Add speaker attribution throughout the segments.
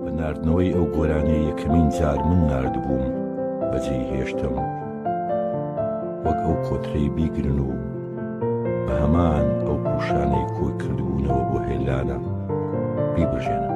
Speaker 1: بە ناردنەوەی ئەو گۆرانیە یەکەمین جار من نردبووم بەجێی هێشتم وەک ئەو کۆترەی بیگرن و بە هەمان ئەو پوشانەی کۆی کردبوونەوە بۆ هێلانە بیبژێنم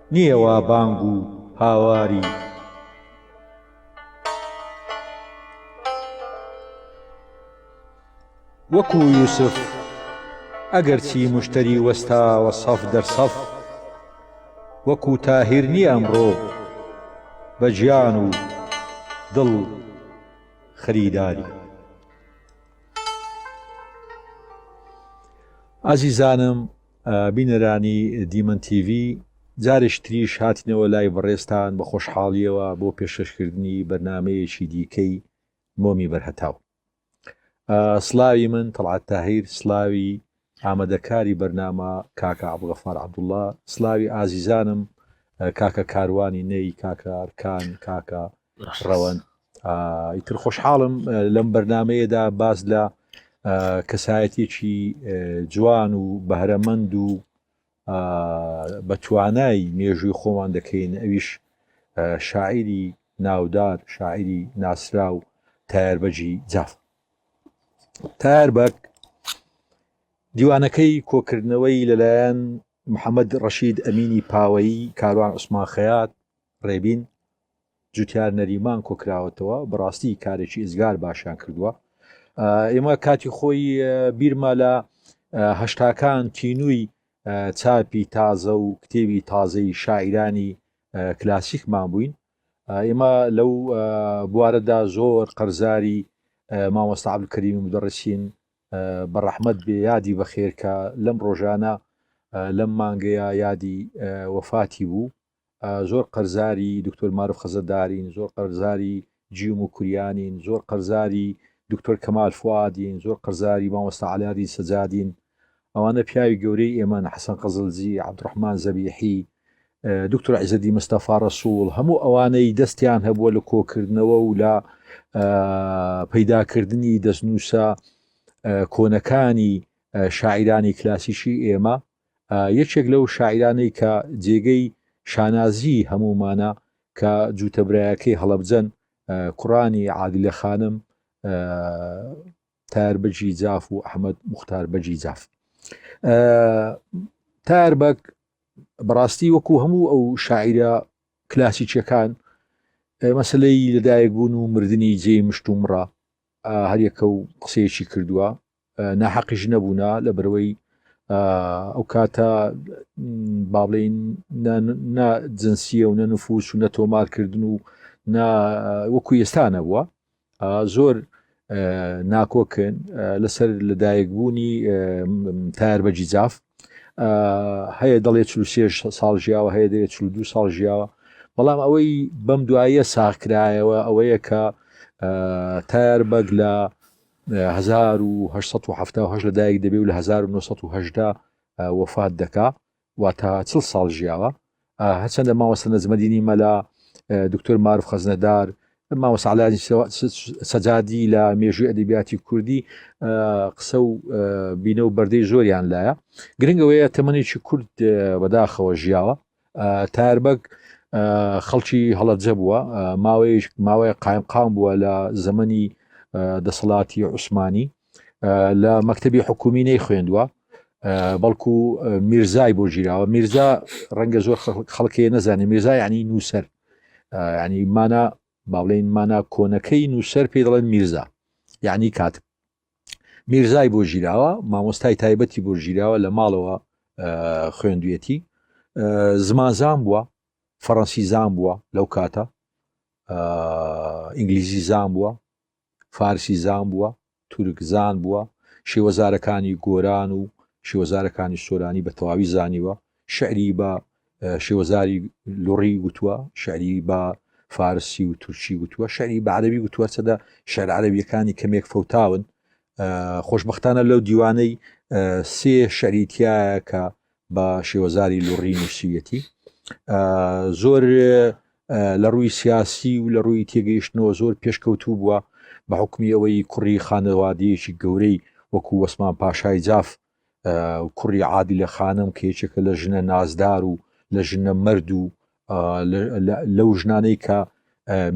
Speaker 2: نییە وا بانگ و هاواری وەکو یوسف ئەگەر چی مشتەری وەستاوە سەف دەر سەف وەکو تاهیر نییە ئەمڕۆ بە گیان و دڵ خەریداری. ئازیزانم بینەرانی دیمەن تیڤی جارێکی تریش هاتینەوە لای بەڕێزتان بە خۆشحاڵیەوە بۆ پێشکەشکردنی بەرنامەیەکی دیکەی مۆمی بەرهەتاو سلاوی من تەڵعات تاهیر سلاوی ئامادەکاری بەرنامە کاکە عبغەفار عبدوڵە سلاوی ئازیزانم کاکە کاروانی نەی کاکە ئەرکان کاکە ڕەوەند ئیتر خۆشحاڵم لەم بەرنمەیەدا باز لە کەسایەتێکی جوان و بەهرەمەند و بە توانای مێژووی خۆمان دەکەین ئەویش شاعری ناودار شاعری ناسرا و تایاربەجی جاف تایاربەک دیوانەکەی کۆکردنەوەی لەلایەن محەممەد ڕەشید ئەمینی پاوەیی کاروان عوسمان خەیات ڕێبین جوتیار نەریمان کۆکراوەتەوە بەڕاستی کارێکی ئزگار باشیان کردووە ئێمە کاتی خۆی بیرمە لە هەشتاکان تینووی چاپی تازە و کتێبی تازەی شاعرانی کلاسیکمان بووین ئێمە لەو بوارەدا زۆر قەرزاری مامۆستا عبدکەریم دەڕسین بە ڕەحمد بێ یادی بەخێرکە لەم ڕۆژانە لەم مانگەیە یادی وەفاتی بوو زۆر قەرزاری دکتۆر مارف خەزەدارین، زۆر قەرزاری جیوم و کوریانین، زۆر قەرزاری دکتۆر کەمال فوادین، زۆر قەرزاری مامۆستا عەلادین سەجادین، ئەوانە پیاوی گەورەی ئێمەن، حەسەن قزلجی، عەبدولڕەحمان زەبیحی، دکتۆر عیزەدین مستەفا ڕەسوڵ، هەموو ئەوانەی دەستیان هەبووە لە کۆکردنەوە و لە پەیداکردنی دەستنووسە کۆنەکانی شاعیرانی کلاسیکی ئێمە، یەکێک لەو شاعیرانەی کە جێگەی شانازیی هەموومانە کە جووتە برایەکەی هەڵەبجەن، کوڕانی عادلە خانم، تایەر بەگی جاف و ئەحمەد موختار بەگی جاف. تایەر بەگ بەڕاستی وەکو هەموو ئەو شاعیرە کلاسیکیەکان مەسلەی لەدایک بوون و مردنی جێی مشت و مڕە هەریەکە و قسەیەکی کردووە ناحەقیش نەبوونا لە برەوەی ئەو کاتە با بڵین جنسیە و نەنفوس و نە تۆمارکردن و وەکو ئێستانە بووە زۆر ناکۆکن لەسەر لەدایکبوونی تار بەجی جاف هەیە دەڵێ چ ساڵ ژیاوە هەیە دەێت چ دو ساڵ ژیاوە بەڵام ئەوەی بەم دوایە ساخکرایەوە ئەوەیە کە تار بەگ لە هەزار و هەشت سەد و حەفتا و هەشت لەدایک دەبێ و لە هەزار و نۆ سەد و هەژدە وەفات دەکا واتە چڵ ساڵ ژیاوە هەرچەندە ماوەسە نەزمەدینی مەلا دکتۆر معرف خەزنەدار ماوەسەعلانی سەجادی لە مێژوی ئەدەبیاتی کوردی قسە و بینە و بەردەی زۆریان لایە گرنگەوەیە تەمەێکی کورد بەداخەوە ژیاوە تایەر بەگ خەڵکی هەڵەبجە بووە ماوەیەش ماوەیە قایم قام بووە لە زەمەنی دەسەڵاتی عوسمانی لە مەکتتەبی حکومی نەی خوێندووە بەڵکو میرزای بۆ گیراوە میرزا ڕەنگە زۆر خەڵکەیە نەزانێت میرزا ینی نووسەر ینی مانا باڵێن مانا کۆنەکەی نووسەر پێ دەڵێن میرزا یعنی کاتب میرزای بۆ ژیراوە مامۆستای تایبەتی بۆ ژیراوە لە ماڵەوە خوێندویەتی زمانزان بووە فەڕەنسی زان بووە لەو کاتە ئینگلیزی زان بووە فارسی زان بووە تورک زان بووە شێوەزارەکانی گۆران و شێوەزارەکانی سۆرانی بە تەواوی زانیوە شیعری بە شێوەزاری لوڕی وتووە، شیعری بە فارسی و تورکی وتووە، شیعری بە عەرەبی وتووە، هەرچەندە شیعرە عەرەبییەکانی کەمێک فەوتاون، خۆشبەختانە لەو دیوانەی سێ شیعری تیایە کە بە شێوەزاری لوڕی نووسیویەتی. زۆر لە ڕووی سیاسی و لە ڕووی تێگەیشتنەوە زۆر پێشکەوتوو بووە بە حکومی ئەوەی کوڕی خانەوادەیەکی گەورەی وەکو وەسمان پاشای جاف کوڕی عادیلە خانم کە یەکێکە لە ژنە نازدار و لە ژنە مرد و لەو ژنانەی کە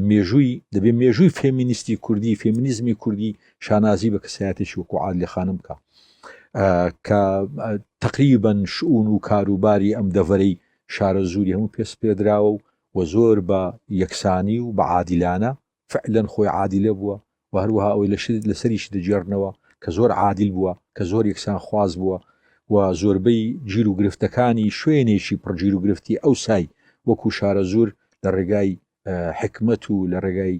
Speaker 2: مێژووی دەبێ مێژووی فێمینیستی کوردی فێمینیزمی کوردی شانازی بە کەسایەتێکی وەکو عادلی خانم بکە کە تقریبن شعون و کاروباری ئەم دەڤەرەی شارە زووری هەموو پێسپێدراوە و و زۆر بە یەکسانی و بە عادیلانە فعلەن خۆی عادیلە بووە و هەروەها ئەوەی لەسەریشی دەگێڕنەوە کە زۆر عادیل بووە کە زۆر یەکسان خواز بووە و زۆربەی گیر و گرفتەکانی شوێنێکی پڕ گیر و گرفتی ئەوسای وەکو شارەزوور لە ڕێگای حکمەت و لە ڕێگای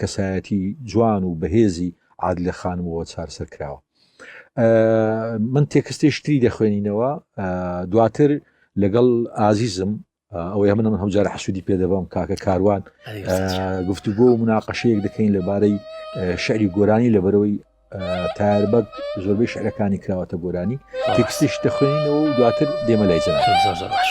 Speaker 2: کەسایەتی جوان و بەهێزی عادلە خانمەوە چارسەر کراوە من تێکستێشتری دەخوێنینەوە دواتر لەگەڵ ئازیزم ئەوەیە من ئەمن هەمجار حەسوودی پێ دەبم کاکە کاروان گفتوگۆ و مناقەشەیەک دەکەین لەبارەی شعری گۆرانی لەبەرەوەی تاربەت زۆربەی شعرەکانی کراوەتە گۆرانی تێکسیش دەخوێنینەوە و دواتر دێمە لای جەنا زۆر زۆر باش.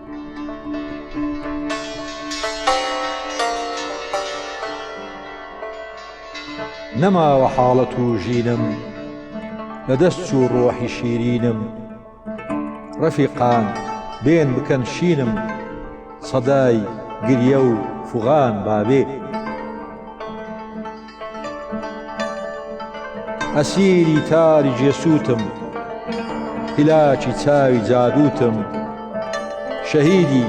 Speaker 2: نەماوە حاڵە توژینم لە دەست چوو ڕۆحی شیرینم ڕەفیقان بێن بکەن شینم سەدای گریە و فوغان باێ. ئەسیری تاری جێسووتم هیلاکی چاوی جادووتم شەهیدی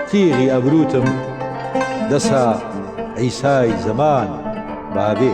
Speaker 2: تیغی ئەبرووتم دەسا عیسای زەمان بابێ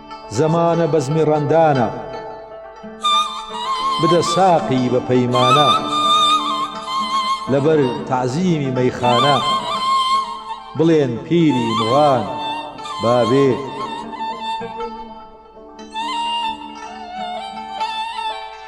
Speaker 2: زمانە بەزمی ڕەندانە، بدە ساقی بە پەیمانە، لەبەر تەعزیمی مەیخانە، بڵێن پیری مغان بابێ!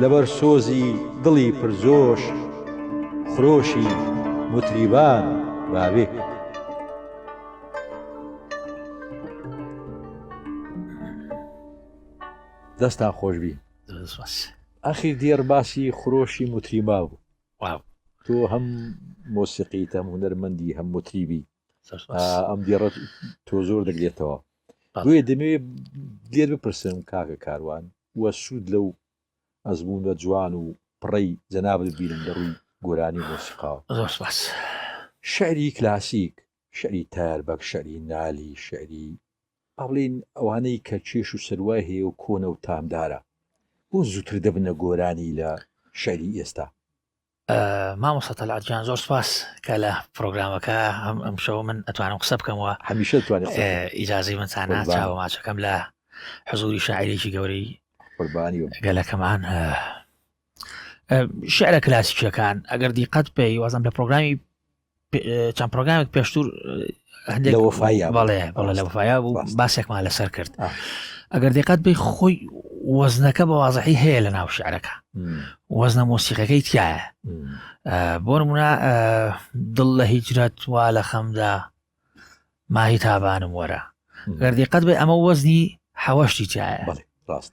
Speaker 2: لەبەر سۆزی دڵی پر جۆش خرۆشی موتریبان باوێ. دەستان خۆش بی ئەخیر دیێڕ باسی خرۆشی متریما بوو تۆ هەم مۆسیقی تەم هوەرمەندی هەم متریبی ئەم دیێڕ تۆ زۆر دەگرێتەوە بۆیە دەمەوێت دێر بپرسم کاکە کاروان و سوود لەو ئەزموونە جوان و پڕەی جەنابت ببینم لە ڕووی گۆرانی و مۆسیقاوە. زۆر سوپاس. شیعری کلاسیک، شیعری تایەر بەگ، شیعری نالی، شیعری با بڵێین ئەوانەی کە کێش و سەروای هەیە و کۆنە و تامدارە، بۆ زووتر دەبنە گۆرانی لە شیعری ئێستا؟
Speaker 3: مامۆستا تەلعات جان زۆر سپاس کە لە پرۆگرامەکە هەم ئەم شەو من ئەتوانم قسە بکەمەوە هەمیشە توانێت
Speaker 2: ئیجاازی من چانە
Speaker 3: چاوە ماچەکەم لە حزوری شاعرێکی گەورەی قوربانی گەلەکەمان شعرە کلاسیکیەکان ئەگەر دیقەت پێی وازم لە پرۆگرامی چەند پرۆگرامێک پێشتور هەندێک وفایا بەڵێ بەڵێ لە وفایا بوو باسێکمان لەسەر کرد ئەگەر دقات بی خۆی وەزنەکە بە وازحی هەیە لە ناو شعرەکە وەزنە مۆسیقەکەی تایە بۆ منە دڵ لە هیجرەت وا لە خەمدا ماهی تابانم وەرە گەردی قەت بێ ئەمە وەزنی حەوەشتی تایە ڕاست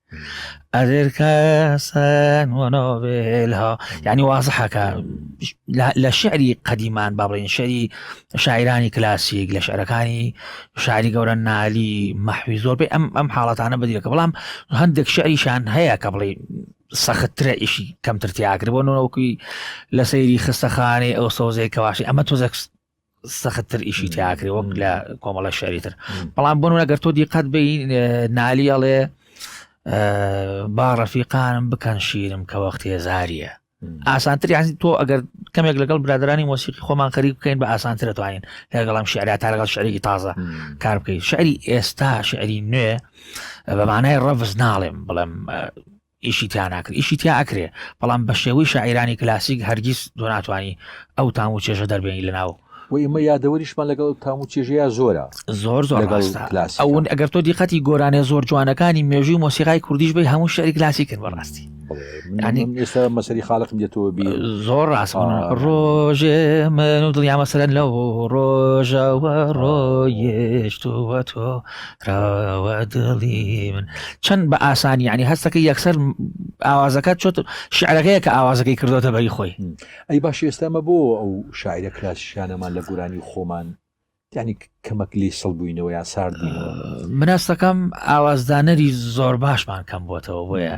Speaker 3: ئەدر کەسەن وەنۆێلها یعنی وازحەکە لە شعری قەدیمان بەڕێن شەری شاعرانی کلاسیک لە شعرەکانی شاری گەورە نالی مەحوی زۆر بێ ئەم ئەم حاڵەتانە بدرێکە بەڵام هەندێک شعریشان هەیە کە بڵێ سەختترە ئیشی کەمتر تیاکرد بۆ نەوەکوی لە سەیری خستەخانەی ئەو سۆزێک کەواشی ئەمە تۆزەکست سەختتر ئیشی تیاکرێ وەک لە کۆمەڵە شاری تر بەڵام بۆن ئەگەر تۆ دیقەت بی نالیەڵێ با ڕەفیقانم بکەن شیرم کە وەخت هێزاریە ئاسانتر یان تۆ ئەگەر کەمێک لەگەڵ برادرانی مۆسیقی خۆمان خەریک بکەین بە ئاسانترە توانین لەگەڵام شعرا تا لەگەڵ شعرێکی تازە کار بکەین شعری ئێستا شعری نوێ بەمانای ڕەفز ناڵێم بڵێم ئیشی تیا ناکرێ ئیشی تیا ئەکرێ بەڵام بە شێوەی شاعیرانی کلاسیک هەرگیز دۆ ناتوانانی ئەو تام و چێژە دەربێنی لە ناو و ئیمە یادەوەریشمان
Speaker 2: لەگەڵ تام و چێژەیە زۆرە زۆر زۆر لەگەڵ
Speaker 3: ڕاستە کلاس ئەوون ئەگەر تۆ دیقەتی گۆرانێ زۆر جوانەکانی مێژووی مۆسیقای کوردیش بی هەموو شعری کلاسی کرد بەڕاستی ینی ئێستا
Speaker 2: مەسەری خاڵقم دێتەوە بی زۆر ڕاست
Speaker 3: ڕۆژێ من و دڵیامەسەرەن لەو ڕۆژەوە ڕۆیشتوە تۆ کاوە دڵی من چەند بە ئاسانی ینی هەستەکە یەکسەر ئاوازەکە چۆت شعرەکەیە کە ئاوازەکەی کردوتە بەری خۆی ئەی باش ئێستامە
Speaker 2: بۆ ئەو شاعرە کلاسیکانەمان لە گورانی خۆمان ینی کەمەک لی سڵ بووینەوە یا سارد بووینەوە مناستەکەم
Speaker 3: ئاوازدانەری زۆر باشمان کەم بۆتەوە بۆیە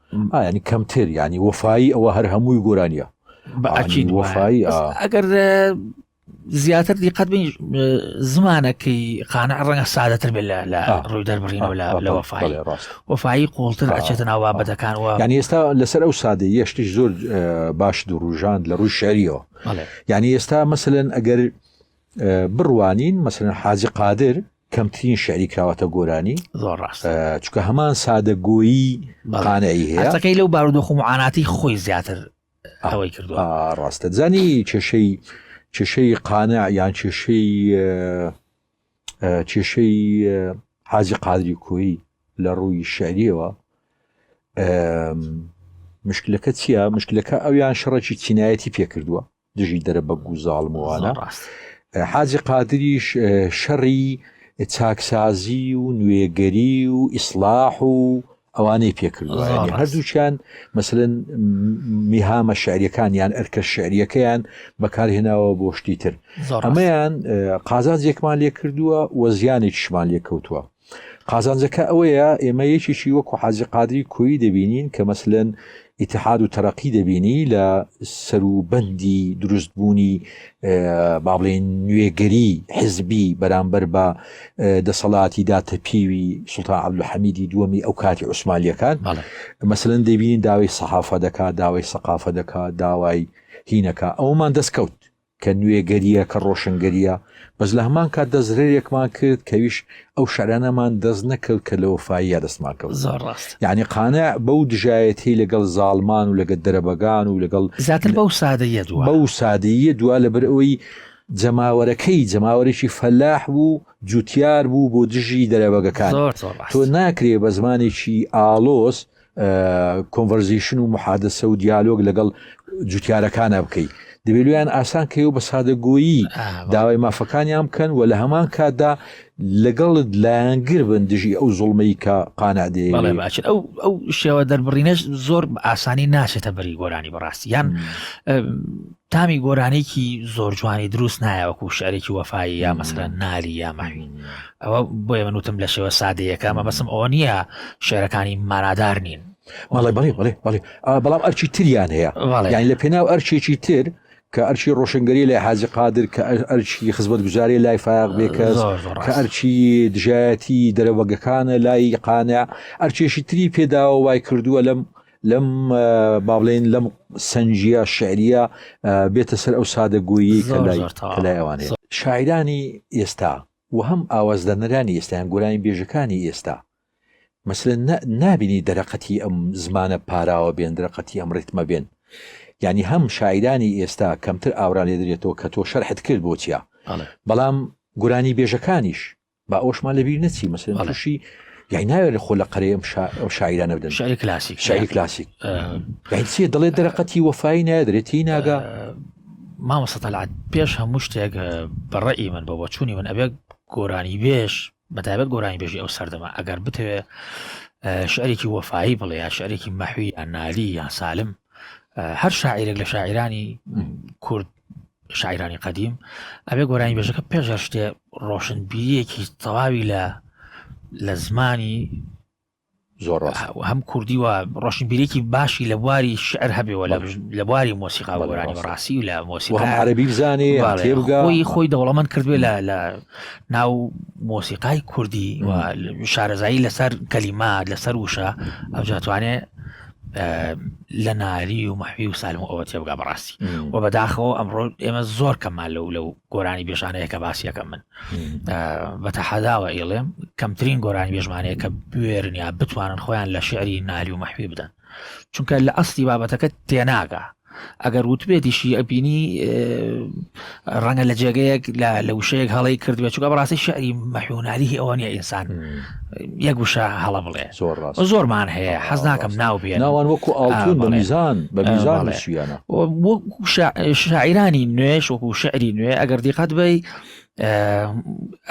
Speaker 2: یعنی کەمتر ینی وەفایی ئەوە هەر هەمووی گۆرانیە بەعکی
Speaker 3: وەفایی ئەگەر زیاتر دیقەت بین زمانەکەی قانە ڕەنگە سادەتر بێت لە ڕووی دەربڕینەوە لە وەفای وەفایی قوڵتر ئەچێتە ناو بابەتەکانەوە یان ئێستا لەسەر
Speaker 2: ئەو سادە یشتیش زۆر باش دوروژاند لە ڕووی شەریەوە یعنی ئێستا مەسەن ئەگەر بڕوانین مەسەن حاجی قادر کەمترین شعری کراوەتە گۆرانی زۆر ڕاست
Speaker 3: چکە هەمان
Speaker 2: سادەگۆیی بەڵانەی هەیەەکەی لەو بارودۆخ و
Speaker 3: معاناتی خۆی زیاتر ئەوەی کردو ڕاستە زانی
Speaker 2: کێشەی کێشەی قانە یان کێشەی کێشەی حازی قادری کۆی لە ڕووی شعریەوە مشکلەکە چییە مشکلەکە ئەویان شەڕێکی چینایەتی پێکردووە دژی دەرەبەگ و زاڵم وانە حاجی قادریش شەڕی چاکسازی و نوێگەری و ئیسلاح و ئەوانەی پێکردوە هەردووچیان مثلن میهامە شعریەکان یان ئەرکە شعریەکەیان بەکارهێناوە بۆ شتی تر ئەمەیان قازان زێکمان لێ کردووە وە زیانی شمان لێ کەوتووە قازانجەکە ئەوەیە ئێمە یەکێکی وەکو حاجی قادری کۆیی دەبینین کە مەسلەن ئیتحاد و تەرەقی دەبینی لە سەروبەندی دروستبوونی بابلین نوێگەری حزبی بەرامبەر بە دەسەڵاتی داتەپیوی سلتا عبدلو حەمیدی دووەمی ئەو کاتی عوسمالیەکان مەسلەن دەبینین داوای سەحافە دەکات داوای سەقافە دەکات داوای هینەکە ئەومان دەستکەوت کە نوێگەریە کە ڕۆشنگەریە بەس لە هەمان کاتدا زرێرێکمان کرد کەویش ئەو شعرانەمان دەست نەکەوت کە لە وەفاییە دەستمان کەوت زۆر ڕاست یعنی
Speaker 3: قانع بەو
Speaker 2: دژایەتی لەگەڵ زاڵمان و لەگە دەرەبەگان
Speaker 3: و
Speaker 2: لەگەڵ زیاتر
Speaker 3: بەو
Speaker 2: سادەیە دو بەو
Speaker 3: سادەیە
Speaker 2: دوا لەبەر
Speaker 3: ئەوەی
Speaker 2: جەماوەرەکەی جەماوەرێکی فەلاح بوو جوتیار بوو بۆ دژی دەرەبەگەکان تۆ ناکرێ بە زمانێکی ئالۆز کۆنڤەرزیشن و محادسە و دیالۆگ لەگەڵ جوتیارەکانە بکەی دەبێت لویان ئاسان کەەوە بە سادەگۆیی داوای مافەکانیان بکەن و لە هەمان کاتدا لەگەڵت لایەنگر بن دژی ئەو زڵمەی کە قانادێ ئەو ئەو
Speaker 3: شێوە دەربڕینەش زۆر ئاسانی ناچێتە بەری گۆرانی بەڕاستی یان تامی گۆرانێکی زۆر جوانی دروست نایە وەکو شعرێکی وەفایی یا مەسرە ناری یا ماوی ئەوە بۆ ئێمە وتم لە شێوە سادەیەەکە مە بەسم ئەوە نییە شعرەکانی مارادار نین بەڵێ بڵێ بڵێ
Speaker 2: بڵێ بەڵام ئەرچی تریان هەیە یان لە پێناو ئەرچێکی تر کە ئەرچی ڕۆشنگەری لای حاجی قادر کە ئەرچی خزمەت گوزارێ لای فاق بێکەس کە ئەرچی دژایەتی دەرەوەگەکانە لای قانە ئەرچێشی تری پێداوە وای کردووە لەم لەم با بڵێن لەم سەنجیە شعریە بێتە سەر ئەو سادەگۆیی کە لای لای ئەوانێ شاعرانی ئێستا و هەم ئاوازدەنەرانی ئێستایان گۆرانی بێژەکانی ئێستا مەسلە نابینی دەرەقەتی ئەم زمانە پاراوە بێن درەقەتی ئەم ڕیتمە بێن ینی هەم شاعرانی ئێستا کەمتر ئاورا لێ درێتەوە کە تۆ شەرحت کرد بۆچیە بەڵام گورانی بێژەکانیش با ئەوشمان لەبیر نەچی مەسەن تووشی یای ناوێت لە خۆ لە قەرەی ئەم شاعرانە بدەن شعری کلاسیک شعری
Speaker 3: کلاسیک
Speaker 2: چیە دەڵێت دەرەقەتی وەفای نادرێتی ناگا
Speaker 3: مامەسەتەلات پێش هەموو شتێک بەڕێی من بە بۆچوونی من ئەبێت گۆرانی بێش بەتابەت گۆرانی بێژی ئەو سەردەما ئەگەر بتەوێ شعرێکی وەفایی بڵێ یا شعرێکی مەحوی یان نالی یان سالم هەر شاعیرێک لە شاعرانی کورد شاعرانی قەدیم ئەبێ گۆرانی بێژەکە پێش هەر شتێ ڕۆشنبیریەکی تەواوی لە لە زمانی
Speaker 2: زۆر هەم کوردی
Speaker 3: و ڕۆشنبیرێکی باشی لە بواری شعر هەبێەوە لە بواری مۆسیقا گۆرانی ڕاستی و لە مۆسیقا عربی بزانێ
Speaker 2: تێبگەی خۆی
Speaker 3: دەوڵەمەند کردوێ لە لە ناو مۆسیقای کوردی و شارەزایی لەسەر کەلیما لەسەر وشە ئەوجاتوانێ لە ناری و مەحوی و سالم و ئەوە تێبگا بەڕاستی و بەداخەوە ئەمڕۆ ئێمە زۆر کەمان لەو لەو گۆرانی بێژانەیە کە باسیەکە من بە تەحەداوە ئێڵێم کەمترین گۆرانی بێژمانەیە کە بوێرنیا بتوانن خۆیان لە شعری ناری و مەحوی بدەن چونکە لە ئەستی بابەتەکە تێناگە ئەگەر وتبێتیشی ئەبینی ڕەنگە لە جێگەیەک لە لە وشەیەک هەڵی کردبێت چووکە بەڕاستی شعری مەحوناریه ئەوە نیە ئینسان یەک وشە هەڵە بڵێ زۆر ڕاست زۆرمان هەیە حەز ناکەم ناو بێ ناوان وەکو ئاڵتون بە
Speaker 2: میزان بە میزان شویانە
Speaker 3: شاعرانی نوێش وەکو شعری نوێ ئەگەر دیقات بی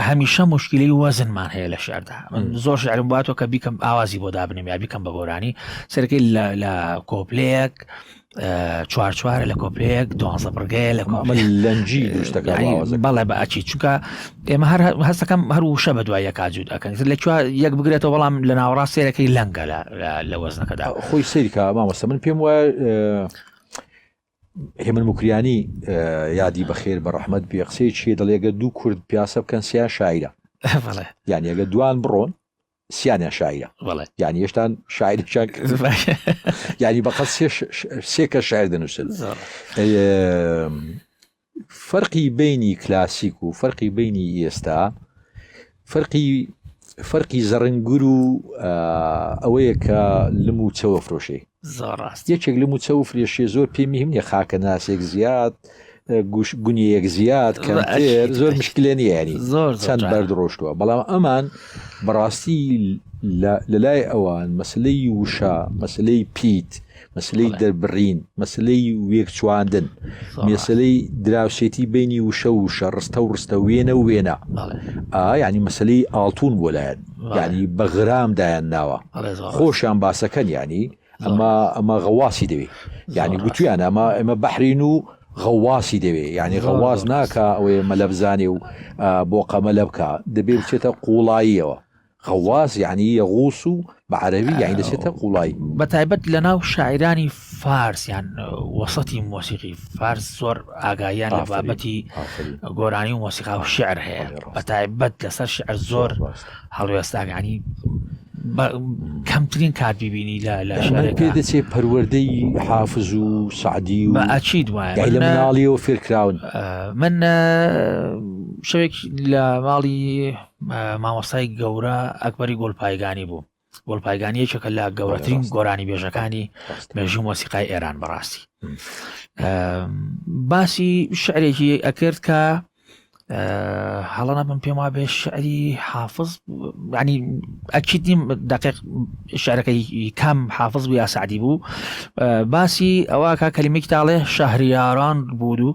Speaker 3: هەمیشە مشکلی وەزنمان هەیە لە شاردا من زۆر شعرم باتەوە کە بیکەم ئاوازی بۆ دابنێم یا بیکەم بە گۆرانی سەرکەی لە کۆپلەیەک چوارچوارە لە کۆپلەیەک دوازە بڕگەیە لە لەنجی
Speaker 2: بەڵێ
Speaker 3: بە ئەچی چونکە ئێمە هەر هەستەکەم هەر وشە بە دوای یەکجود ئەەکەن لە چوە یەک بگرێتەوە بەڵام لە ناوەڕاست سێرەکەی لەنگە لە وەزنەکەدا خۆی سەیرکە
Speaker 2: مامەسە من پێم وایە هێمن موکریانی یادی بەخێر بە ڕەحمەت بێ قسەی چیە دەڵێگە دوو کورد پیاسە بکەن سیان شاعرە یان ئەگە دوان بڕۆن سیانە شاعرە یان هێشتان شاعرشان یاری بەقەت سێکە شاعر دەنووسن فەرقی بینی کلاسیک و فەرقی بینی ئێستا فەرقی فەرقی زەڕنگر و ئەوەیە کە لم و چەوە فرۆشێ زۆڕاست یەکێک لم و چە و فرێشێ زۆر پێمی هەمنیە خاکە ناسێک زیاد گوش گونیەک زیاد کەمتر زۆر مشکلێ نیانی زۆر چەند بەرد ڕۆشتووە بەڵام ئەمان بەڕاستی لە لای ئەوان مەسلەی وشە مەسلەی پیت مەسلەی دەربڕین مەسلەی وێکچواندن مێسلەی دراوسێتی بینی وشە وشە ڕستە و ڕستە وێنە و وێنە ئاینی مەسلەی ئاڵتون بۆ لایەن ینی بەغرام دایان ناوە خۆشیان باسەکەن ینی ئەمە ئەمە غەواسی دەوێت ینی گوتویان ئەمە ئەمە بەحرین و غەواسی دەوێت ینی غەواز ناکە ئەوەیە مەلەبزانێ و بۆ قەمەلە بکە دەبێ بچێتە قوڵاییەوە غواص یەعنی یەغوس و بە عەرەبی یەعنی دەچێتە قوڵایی. بەتایبەت لەناو
Speaker 3: شاعیرانی فارس یان وەسەتی مۆسیقی فارس زۆر ئاگاییان لە بابەتی گۆرانی و مۆسیقا و شعر هەیە بەتایبەت لەسەر شعر زۆر هەڵوێستاگانی کەمترین کات ببینی لە لە شارێک پێ دەچێت پەروەردەی
Speaker 2: حافز و سعدی و ئاچی دوایە لە
Speaker 3: مناڵیەوە
Speaker 2: فێرکراون من
Speaker 3: شوێک لە ماڵی مامۆستای گەورە ئەکبەری گۆلپایگانی بوو گۆلپایگانی یەکێکە لە گەورەترین گۆرانی بێژەکانی مێژوو مۆسیقای ئێران بەڕاستی باسی شعرێکی ئەکرد کە هەڵەنە بم پێم وا بێ شعری حافظ ینی ئەکیت نیم دقیق شعرەکەی کام حافظ بوو یا سعدی بوو باسی ئەوە کا کەلیمێک تاڵێ شەهریاران بوو و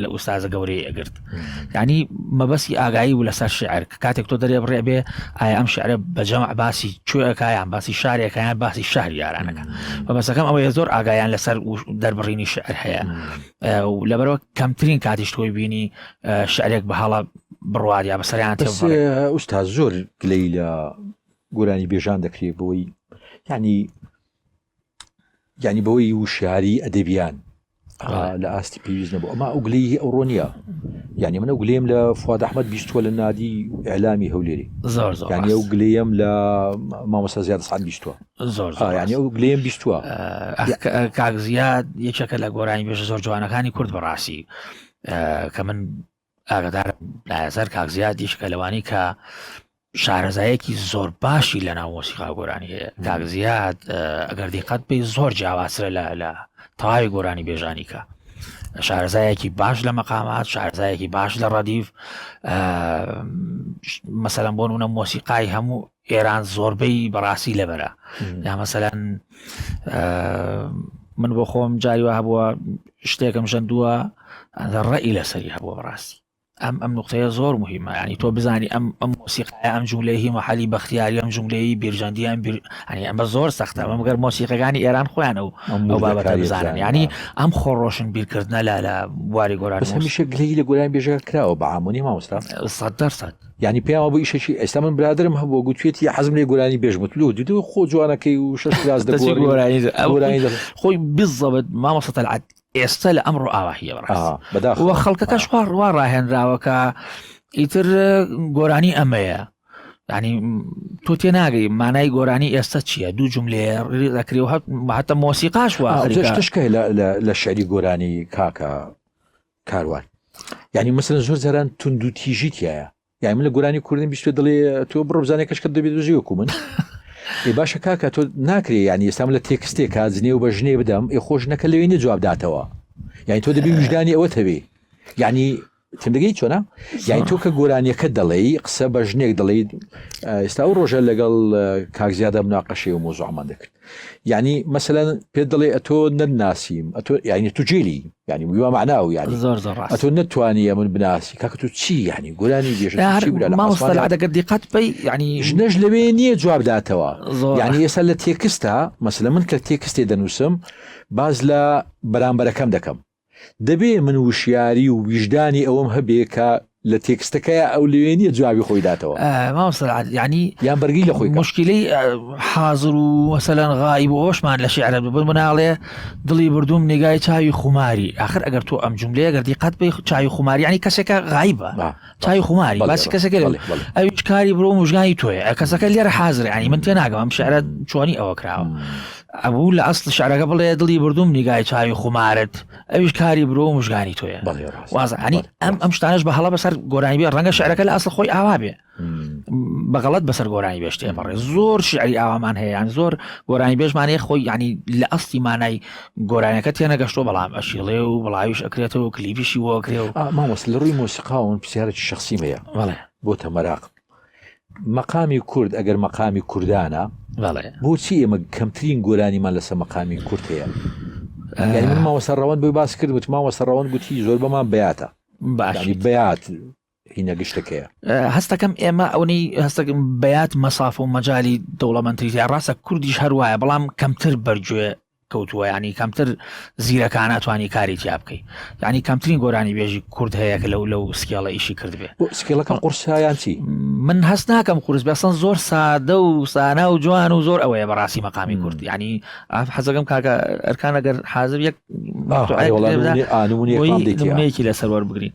Speaker 3: لە ئوستازە گەورەی ئەگرت ینی مەبەستی ئاگایی و لەسەر شعر کە کاتێک تۆ دەرێ بڕێ بێ ئایا ئەم شعرە بەجەمع باسی چۆەکەیان باسی شارێکەکەیان باسی شار یارانەکە بەمەسەکەم ئەوەیە زۆر ئاگایان لەسەر دەربڕینی شعر هەیە لەبەرەوە کەمترین کاتیش تۆی بینی شعرێک بە هەڵە بڕوار یا بەسەریان ئوستا زۆر
Speaker 2: گلەی لە گۆرانی بێژان دەکرێت بۆی ینی یعنی بەوەی وشیاری ئەدەبیان لە ئاستی پێویست نەبوو ئەما ئەو گلەی ئەو ڕۆنیە یعنی منە گلێم لە فواد ئەحمد بیستوە لە نادی ئەلامی هەولێری ینی ئەو گلەیەم لە مامۆستا زیاد سعات بیستوە زۆر ینی ئەو گلێم بیستوە کاک
Speaker 3: زیاد یەکێکە لە گۆرانی بێژە زۆر جوانەکانی کورد بەڕاستی کە من ئاگدار لایەسەر کاک زیادیش کە لەوانی کە شارەزایەکی زۆر باشی لە ناو مۆسیقا گۆرانی هەیە کاک زیاد ئەگەر دیقەت پێی زۆر جیاواسرە لە لە تەواوی گۆرانی بێژانی کە شارەزایەکی باش لە مەقامات شارزایەکی باش لە ڕەدیف مەسەلەن بۆ نونە مۆسیقای هەموو ئێران زۆربەی بەڕاستی لەبەرە یا مەسەلەن من بۆ خۆم جاری وە هەبووە شتێکم ژەندووە ڕێی لەسەری هەبووە بەڕاستی ئەم ئەم نقطەیە زۆر مهمە ینی تۆ بزانی ئەم ئەم مۆسیقای ئەم جوولەی هی مححلی بەختیاری ئەم جوولەی بیرژەندیان بیر ئەنی ئەمە زۆر سەختە ئەم گەر مۆسیقەکانی ئێران خۆیانە و ئەو بابەتە بزانن ینی ئەم خۆڕۆشن بیرکردە لە لە بواری گۆران هەمیشە گلی لە گۆران
Speaker 2: بێژە کراوە بە ئامونی مامۆستا سەد دەرسەد
Speaker 3: یانی پێیان وابوو
Speaker 2: ئیشەکی ئێستا من برادرم هەبووە گوتوێتی حەزم لێ گۆرانی بێژم وت لۆ دیدەوە خۆ جوانەکەی و شەش کراس دەچی دەگۆڕی گۆرانی دە- ئەو- گۆرانی دەخ- خۆی
Speaker 3: بزەبت مامۆستا تەلعەت ئێستا لە ئەمڕۆ ئاوا هیە بەڕاست ئاها، بەداخەوە. وە خەڵکەکەش خوا ڕوا ڕاهێنراوە کە ئیتر گۆرانی ئەمەیە ینی تۆ تێ ناگەی مانای گۆرانی ئێستا چییە دوو جملەیە ڕێدەکری و هەت- هەتە مۆسیقاش آه، وا جەش تشکە لە-
Speaker 2: لە- لە شعری گۆرانی کاکە کاروان یعنی مەسەن زۆر جاران تونند و تیژی تایە یای من لە گورانی کوردن بیست دڵێ تۆ بڕبزانێ کەشکە دەبێت دژیوەکو من ێ باشە کاکە تۆ ناکرێ ینی ئێستام لە تێکستێکا جنێ و بە ژنێ بدەم ئێ خۆش نەکە لەوێ نە جواب داتەوە یعنی تۆ دەبی وژدانی ئەوە تەوێ ینی تندگەی چۆنا یای تۆ کە گۆرانیەکە دەڵێی قسە بە ژنێک دەڵیت ئێستا و ڕۆژە لەگەڵ کاکزیادە مناقەشی و مۆزۆمان دەکرد یعنی مەسەەن پێ دەڵێ ئەتۆ نەناسیم ئەتۆ یعنی تو جێلی ینی ویوا معنا و ینی زۆر زۆر ئەتۆ نتوانیە من بناسی کاکە تو چی ینی گۆرانی دێژەگەر
Speaker 3: دیقات پێی ینی ژنەش لەوێ نییە
Speaker 2: جوابداتەوە ینی ئێستا لە تێکستا مەسلە من کە تێکستێ دەنووسم باز لە بەرامبەرەکەم دەکەم دەبێ من وشیاری و ویژدانی ئەوەم هەبێ کە لە تێکستەکەی ئەو لەوێ نیە جوابی خۆی داتەوە ینی
Speaker 3: یان بەرگی لە خۆی
Speaker 2: مشکلی
Speaker 3: حاضر و مەسەلەن غای بۆ ئەوشمان لە شعرە ببن مناڵێ دڵی بردوم نیگای چاوی خوماری آخر ئەگەر تۆ ئەم جملەیە گەردی قەت بی چاوی خوماریانی کەسێکە غایبە. چای خماری باسی کەسەکە ئەویش کاری برۆ مژگانی تۆێ کەسەکە لێرە حازر ینی من تێ ناگەم شعرە چۆنی ئەوە کراوە ئەبوو لە ئەست شعرەکە بڵێ دڵی بردوم نیگای چاوی خمارت ئەویش کاری برۆ و مژگانی تۆیە وازانی ئەم ئەم شتانش بە هەڵە بەسەر گۆرانی بێ ڕەنگە شعرەکە لە ئەسڵ خۆی ئاوا بێ بەغڵەت بەسەر گۆرانی بێشتێ بەڕێ زۆر شعری ئاوامان هەیەیان زۆر گۆرانی بێژمانەیە خۆی ینی لە ئەستی مانای گۆرانیەکە تێنەگەشتۆ بەڵام ئەشیڵێ و بڵاویش ئەکرێتەوە کلیبیشی بۆ ئەکرێ و مامۆس لە ڕووی مۆسیقاون
Speaker 2: پرسیارێکی شخصی مەیە بەڵێ بۆ تەمەراق مەقامی کورد ئەگەر مەقامی کوردانە بەڵێ بۆچی ئێمە کەمترین گۆرانیمان لەسەر مەقامی کورد هەیە یعنی من ماوەسەر ڕەوەند بۆی باس کرد وت ماوەسەر ڕەوەند گوتی زۆر بەمان بیاتە باشی باشی بیات هینە گشتەکەیە. هەستەکەم ئێمە
Speaker 3: ئەونی هەستەکەم بەات مەساف و مەجای دەوڵەمەندتریزیا ڕاستە کوردیش هەروایە بەڵام کەمتر بەرگوێ کەوتووە ینی کەمتر زیرەکانە توانی کاری تیا بکەیت ینی کەمترین گۆرانی بێژی کورد هەیە کە لەو لەو سکیڵە ئیشی کردبێ سکیڵەکە قورسیان
Speaker 2: چی من هەست ناکەم
Speaker 3: قورس بەسەن زۆر سادە و سانا و جوان و زۆر ئەوەیە بەڕاستی مەقامی کورد ینی ئاف حەزەکەم کاکە ئەرکان ئەگەر حازر یەک ئانونێکی لەسەروەر بگرین.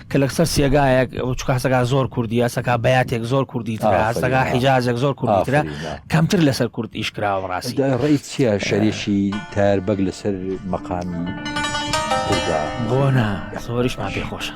Speaker 3: کە لە سەر سێگایەک چکە هەسەکە زۆر کوردی هەسەکە بەاتێک زۆر کوردی ترە هەسەکە حیجازێک زۆر کوردی ترە کەمتر لەسەر کورد ئیشکراوە ڕاستی ڕێی چیە
Speaker 2: شەریشی تار بەگ لەسەر مەقامی بۆ نا
Speaker 3: زۆریشمان پێ خۆشە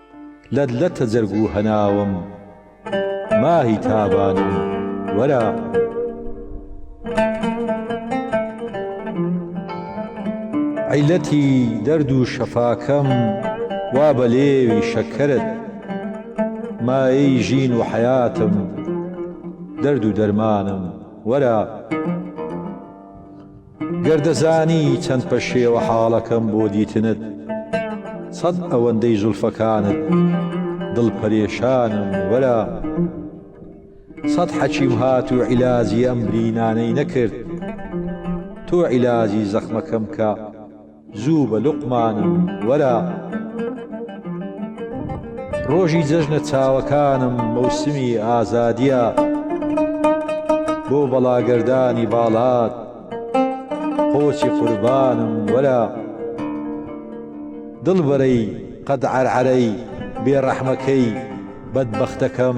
Speaker 2: لەت لەتە جەرگ و هەناوم ماهی تابانم وەرە. عیلەتی دەرد و شەفاکەم وا بە لێوی شەکەرت مایەی ژین و حەیاتم دەرد و دەرمانم وەرە. گەر دەزانی چەند پەشێوە حاڵەکەم بۆ دیتنت سەد ئەوەندەی زولفەکانت دڵ پەرێشانم وەلا سەد حەکیم هات و عیلاجی ئەم برینانەی نەکرد تۆ عیلاجی زەخمەکەم کە زوو بە لوقمانم وەرە ڕۆژی جەژنە چاوەکانم مەوسمی ئازادیە بۆ بەڵاگەردانی باڵات قۆچی قوربانم وەرە دڵبەرەی قەد عەرعەرەی بێڕەحمەکەی بەدبەختەکەم.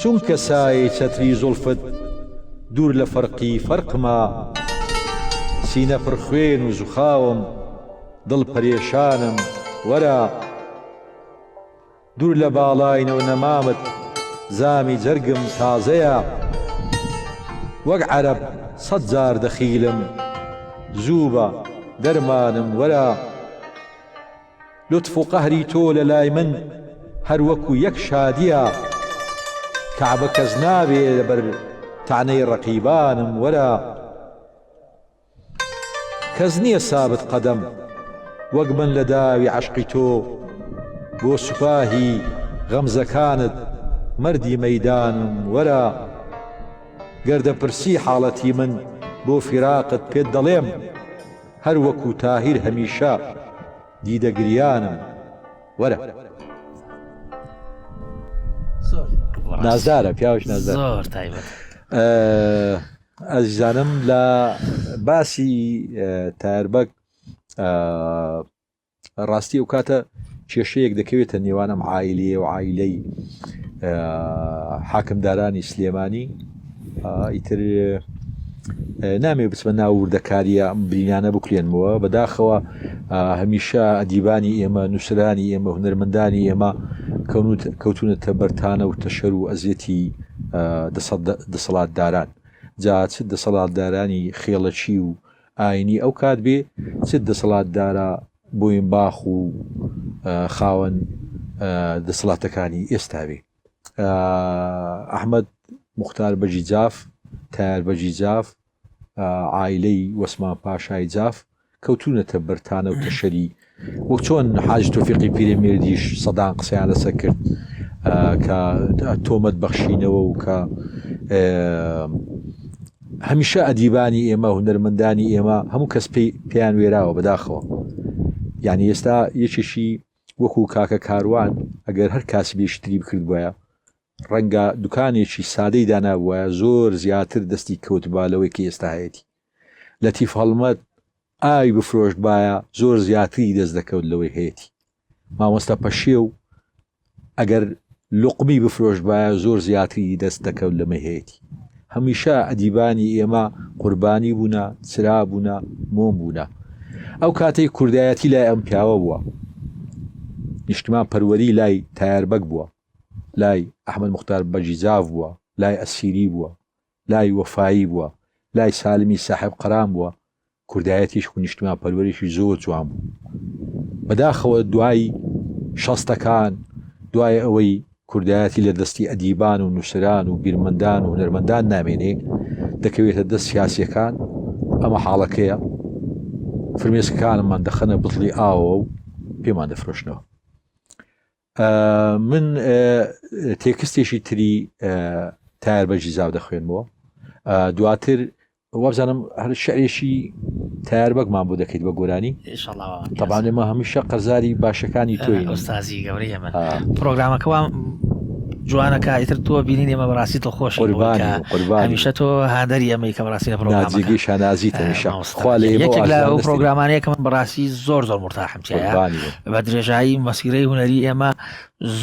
Speaker 2: چونکە سایەی چەتری زوڵفت دوور لە فەرقی فەرقمە سینە پڕ خوێن و زوخاوم دڵ پەرێشانم وەرە دوور لە باڵاینە و نەمامت زامی جەرگم تازەیە وەک عەرەب سەد جار دەخیلم زووبە دەرمانم وەرە. لوتف و قەهری تۆ لە لای من هەر وەکو یەک شادییە کەعبە کەس نابێ لە بەر تەعنەی ڕەقیبانم وەرە کەس نییە سابت قەدەم وەک من لە داوی عەشقی تۆ بۆ سوپاهی غەمزەکانت مەردی مەیدانم وەرە گەر دەپرسی حاڵەتی من بۆ فیراقت پێت دەڵێم هەر وەکو تاهیر هەمیشە دیدە گریانم وەرە. نازدارە پیاوش نازدار ئەزیزانم لە باسی تاربەک ڕاستی ئەوکاتە کێشەیەک دەکەوێتە نێوان ئەم عیلەیە و عیلەی حاکمدارانی سلێمانی ئیتر نامێ بچمە ناوردەکاریە ئەم برینانە بکرێنمەوە بەداخەوە هەمیشە ئەدیبانی ئێمە نووسرانی ئێمە هونەرمەندانی ئێمە کەونوت کەوتونەتە بەرتانە و تەشەر و ئەزیەتی دەسەڵات داران جا چ دەسەڵاتدارانی خێڵەکی و ئاینی ئەو کات بێ چ دەسەڵات دارە بۆینباخ و خاوەن دەسەڵاتەکانی ئێستا بێ ئەحمەد موختار بەگی جاف تایەر بەگی جاف عایلەی وەسمان پاشای جاف کەوتونەتە بەر تانەو تەشەری وەک چۆن حاجی تۆفیقی پیرەمیردیش سەدان قسەیان لەسەر کرد کە تۆمەت بەخشینەوە و کە هەمیشە ئەدیبانی ئێمە هونەرمەندانی ئێمە هەموو کەس پێی پێیان وێراوە بەداخەوە یعنی ئێستا یەکێکی وەکو کاکە کاروان ئەگەر هەر کاسی بێشتری بکرد بایە ڕەنگە دوکانێکی سادەی دانابووە زۆر زیاتر دەستی کەوتبا لەوەی کە ئێستا هەیەی لەتیف هەڵمەت ئاوی بفرۆشتبایە زۆر زیاتری دەست دەکەوت لەوەی هەیەتی مامۆستا پەشێو ئەگەر لوقمی بفرۆشتبایە زۆر زیاتری دەست دەکەوت لەمەی هەیەتی هەمیشە ئەدیبانی ئێمە قوربانی بوونە چرا بوونە مۆم بوونە ئەو کاتەی کوردایەتی لای ئەم پیاوە بووە نیشتمان پەروەری لای تایاربەگ بووە لای ئەحمد مختار بەجیزاف بووە لای ئەسیری بووە لای وەفایی بووە لای سالمی ساحێب قەران بووە کوردایەتیش و نیشتمان پەروەریشی زۆر جوان بوو بەداخەوە دوای شەستەکان دوای ئەوەی کوردایەتی لە دەستی ئەدیبان و نووسران و بیرمەندان و هونەرمەندان نامێنێ دەکەوێتە دەست سیاسیەکان ئەمە حاڵەکەیە فرمێسکەکانمان دەخەنە بتڵی ئاوە و پێمان دەفرۆشنەوە من تێکستێکی تری تار بەجی زاو دەخوێنمەوە دواتر وابزانم هەر شعرێکی تار بەگمان بۆ دەکەیت بە گۆرانی تەبانێ مە هەمیشە قەرزاری باشەکانی تۆی ئۆستازی گەورەی ئەمە
Speaker 3: پرۆگرامەکەوان جوانەکە ئیتر تۆ بینین ئێمە بەڕاستی تۆ خۆش قوربانیشە تۆ هادەری ئەمەی کە بەڕاستی لە پرۆگرامەکەی شانازی تەمیشە خوا
Speaker 2: لە
Speaker 3: پرۆگرامانەیە کە من بەڕاستی زۆر زۆر مرتاح بە درێژایی مەسیرەی هوەری ئێمە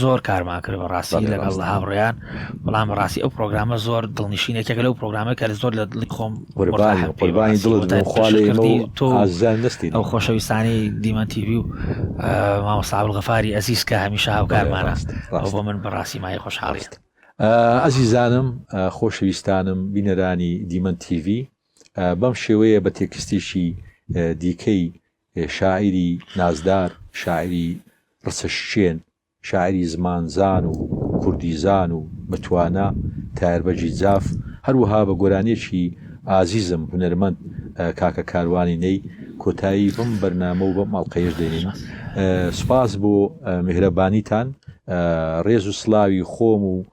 Speaker 3: زۆر کارمان کرد بە ڕاستی لەگەڵ لە هاوڕێیان بەڵام ڕاستی ئەو پرۆگرامە زۆر دڵنیشینێکێک لەو پرۆگرامە کە زۆر لە دڵی خۆم قوربانی دڵستی ئەو خۆشەویستانی دیمەتیوی و مامەساول غەفاری ئەزیز کە هەمیشە هاوکارمان ڕاست بۆ من بەڕاستی مای خۆشحاڵیت ئەزیزانم
Speaker 2: خۆشەویستانم بینەرانی دیمەن تیڤ بەم شێوەیە بە تێکستێکی دیکەی شاعیری نازدار، شاعیری رچەشکێن، شاعیری زمانزان و کوردیزان و بەتوانا، تایەربەگی جاف، هەروەها بە گۆرانیەکی ئازیزم هونەرمەند کاکە کاروانی نەی، کۆتایی بەم بەرنامە و بەم ئەڵقەیەش دێنین. سوپاس بۆ میهرەبانیتان. رێز و سڵاوی خۆم و.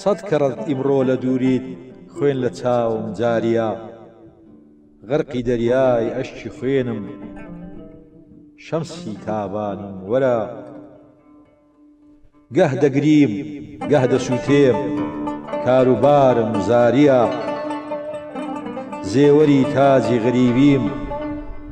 Speaker 2: سەد کەڕەت ئیمڕۆ لە دووریت خوێن لە چاوم جاریە غەرقی دەریای ئەشکی خوێنم شەمسی تابانیم وەرە گەه دەگریم گەه دەسووتێم کاروبارم زاریە زێوەری تاجی غەریبیم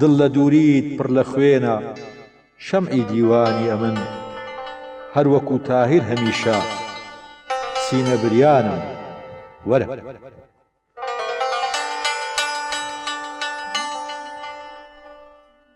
Speaker 2: دڵ لە دووریت پڕ لە خوێنە شەمعی دیوانی ئەمن هەر وەکوو تاهیر هەمیشە سینە بریانم وەرە.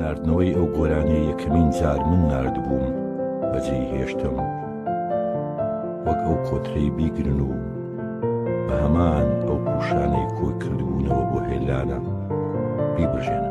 Speaker 1: ناردنەوەی ئەو گۆرانیە یەکەمین جار من نردبووم بەجێ هێشتم وەک ئەو کۆترەی بیگرن و بە هەمان ئەو پوشانەی کۆی کردبوونەوە بۆ هێلانە بیبژێنە